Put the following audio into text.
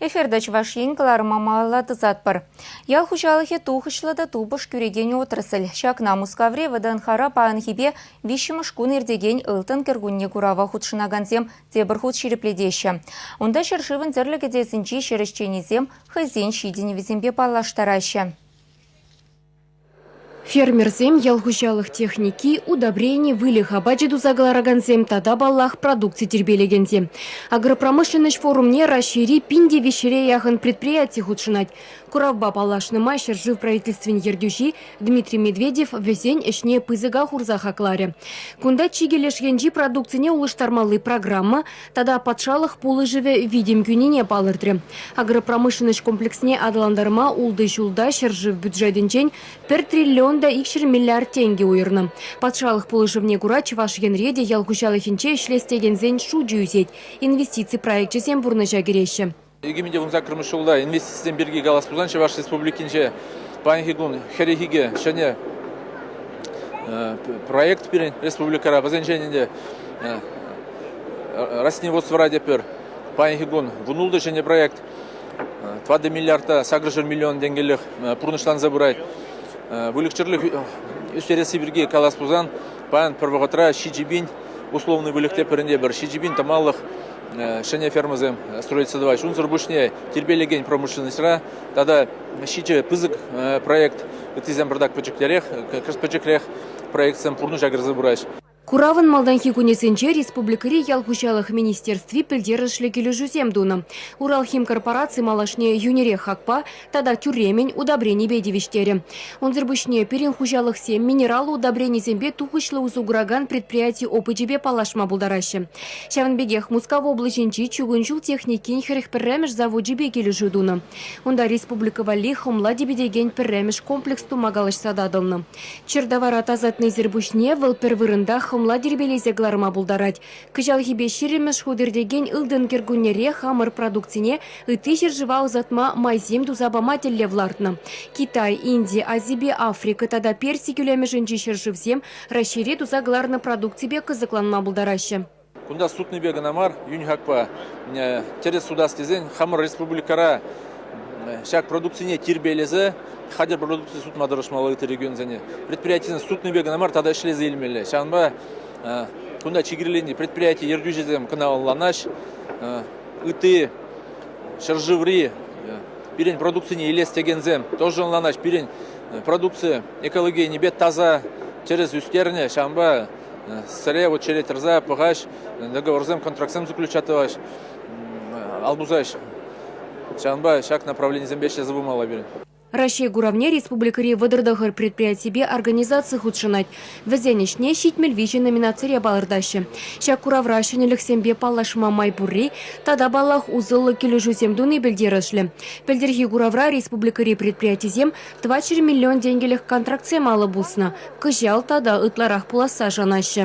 Эфирта Чӑваш Ен кӑларӑма малалла тӑсатпӑр. Ял хуҫалӑхӗ тухӑҫлӑ та тупӑш кӳрекен отрасль. Ҫакна Мускаври ВДНХра паянхипе виҫҫӗмӗш кун иртекен Ылтӑн кӗркунне курава хутшӑнакансем тепӗр хут ҫирӗплетеҫҫӗ. Унта ҫӗршывӑн тӗрлӗ кӗтесӗнчи ҫӗр ӗҫченӗсем хӑйсен ҫитӗнӗвӗсемпе паллаштараҫҫӗ. Фермерсем ял хуҫалӑх техники, удобрени, выльӑх апачӗ туса кӑларакансем тата, паллах, продукци тирпейлекенсем. Агропромышленноҫ форумне Раҫҫейри пин тивӗҫре яхӑн предприяти хутшӑнать. Куравпа паллашнӑ май ҫӗршыв правительствин ертӳҫи Дмитрий Медведев вӗсен ӗҫне пысӑка хурса хакларӗ. Кунта чикӗ леш енчи продукцине улӑштармалли программа, тата патшалӑх пулӑшӑвӗ витӗм кӳнине палӑртрӗ. Агропромышленноҫ комплексне аталантарма ултӑ ҫулта ҫӗршыв бюджетӗнчен пӗр триллион та икҫӗр миллиард тенкӗ уйӑрнӑ. Патшалӑх пулӑшӑвне кура Чӑваш Енре те ял хуҫалӑхӗнче ӗҫлес текенсен шучӗ ӳсет, инвестици проекчӗсем пурнӑҫа кӗреҫҫӗ. Икӗмӗте вунсаккӑрмӗш ҫулта инвестицисем пирки калас пулсан Чӑваш Республикинче паянхи кун хӗррехикӗ ҫӗнӗ проект пирӗн республикӑра. Вӗсенчен ӗнтӗ Росневодствӑра тепӗр паянхи кун вунултӑ ҫӗнӗ проект. Тӑватӑ миллиарда сакӑршар миллион тенкеллех пурнӑҫланса пырать. Выльӑх-чӗрлӗх ӳстересси пирки калас пулсан паян пӗр вӑхӑтра ҫичӗ пин условный выльӑх тепӗринпе пӗр ҫичӗ пин тӑмаллӑх ҫӗнӗ фермӑсем строительство тӑваҫ. Унсӑр пуҫне тирпейлекен промышленноҫра тата ҫичӗ пысӑк проект, ыттисем пӗртак пӗчӗктерех, кӑшт пӗчӗкрех проектсем пурнӑҫа кӗрсе пыраҫ. Куравӑн малтанхи кунӗсенче республикӑри ял хуҫалӑх министерстви пӗлтерӗшлӗ килӗшӳсем тунӑ. Уралхимкорпораци малашне йӳнӗрех хакпа, тата тӳремӗн удобренипе тивӗҫтерӗ. Унсӑр пуҫне пирӗн хуҫалӑхсем минерал удобренисемпе тухӑҫлӑ усӑ куракан предприяти опычӗпе паллашма пултараҫҫӗ. Ҫавӑн пекех Мускав облаҫӗнчи чугун ҫул техникин хӗрӗх пӗрремӗш завочӗпе килӗшӳ тунӑ. Унта республика валли хӑмла типӗтекен пӗрремӗш комплекс тума калаҫса татӑлнӑ. Чӗр тавара тасатнисӗр пуҫне вӑл пӗр вырӑнта хӑмла тирпейлесе кӑларма пултарать, Кӑҫалхипе ҫирӗммӗш хут иртекен ылтӑн кӗркуннере хамӑр продукцине ытти ҫӗршыва ӑсатма майсем туса пама тӗллев лартнӑ. Китай, Инди, Азипе Африка тата Перси кӳлемӗшӗнчи ҫӗршывсем Раҫҫейре туса кӑларнӑ продукципе кӑсӑкланма пултараҫҫӗ. Кунта сутнипе кӑна мар, юньхакпа тӗрӗс сутас тесен хамӑр республикӑра ҫак продукцине тирпейлесе хатӗр продукци сутма тӑрӑшмалла ытти регионсене. Предприятисен сутнипе кӑна мар, тата ӗҫлесе илмелле. Ҫавӑнпа Кунта чикӗрленнӗ предприяти ертӳҫисем кӑна ӑнланаҫҫӗ. Ытти ҫӗршыври пирӗн продукцине илес текенсем тоже ӑнланаҫҫӗ. Пирӗн продукци экологийӗнипе таса тӗрӗс ӳстернӗ. Ҫавӑнпа сӗре вот черет тӑрса пӑхаҫ, договорсем, контрактсем заключать тӑваҫ, ал пусаҫ. Ҫавӑнпа ҫак направленисемпе ӗҫлесе пымалла пирӗн. Раҫҫей куравне республикӑри вӑтӑр-тӑхӑр предприятипе организаци хутшӑнать. Вӗсен ӗҫне «Ҫитмӗл виҫӗ» номинацире палӑртаҫҫӗ. Ҫак куравра ҫӗнӗлӗхсемпе паллашма май пурри тата, паллах, усӑллӑ килӗшӳсем туни пӗлтерӗшлӗ. Пӗлтӗрхи куравра республикӑри предприятисем тӑватҫӗр миллион тенкӗлӗх контрактсем алӑ пуснӑ, кӑҫал тата ытларах пуласса шанаҫҫӗ.